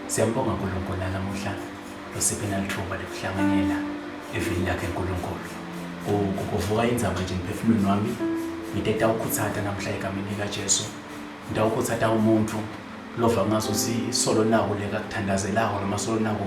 Siyambonga uNkulunkulu nalamuhla osiphe nalithuba lokuhlanganyela evini lakhe uNkulunkulu. Ku- ku- Kuvuka indzaba nje emphefumulweni wami ngite tawukhutsata namhla egameni likaJesu. Ngitawukhutsata umuntfu lova ngazuthi solo naku lekakuthandazelako noma solo naku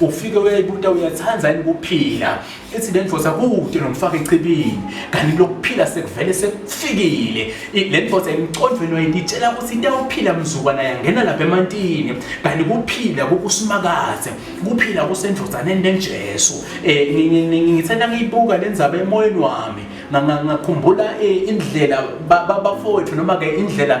ufike uyayibuta uyathanda yini ukuphila ithi le ndoda kude nomfaka echibini kanti lokuphila sekuvele sekufikile le ndoda emcondweni wayini itshela ukuthi into yokuphila mzukwana yangena lapha emantini kanti kuphila kukusimakaze kuphila kusendozaneni lenjesu um ngithanda ngiyibuka le ndzaba emoyeni wami ngakhumbula eh, indlela bafowethu noma-ke indlela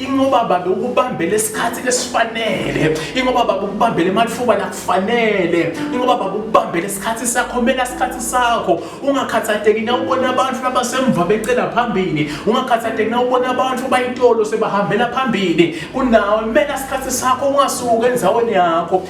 ingoba baba ukubambele isikhathi lesifanele ingoba baba ukubambele emathuba lakufanele ingoba baba ukubambele isikhathi sakho mela isikhathi sakho ungakhathateki na ubona abantu abasemva becela phambili ungakhathateki na ubona abantu bayitolo sebahambela phambili kunawe mela isikhathi sakho ungasuki enzaweni yakho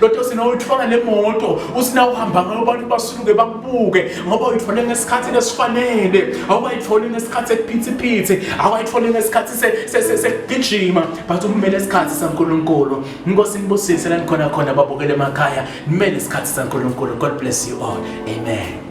lodwa usina uyithola le moto usina uhamba ngayo abantu basuke bakubuke ngoba uyithole ngesikhathi esifanele awukayitholi ngesikhathi ekuphithiphithi awukayitholi ngesikhathi sekugijima but umele isikhathi sankulunkulu inkosi nibusise la nikhona khona babukele emakhaya nimele isikhathi sankulunkulu god bless you all amen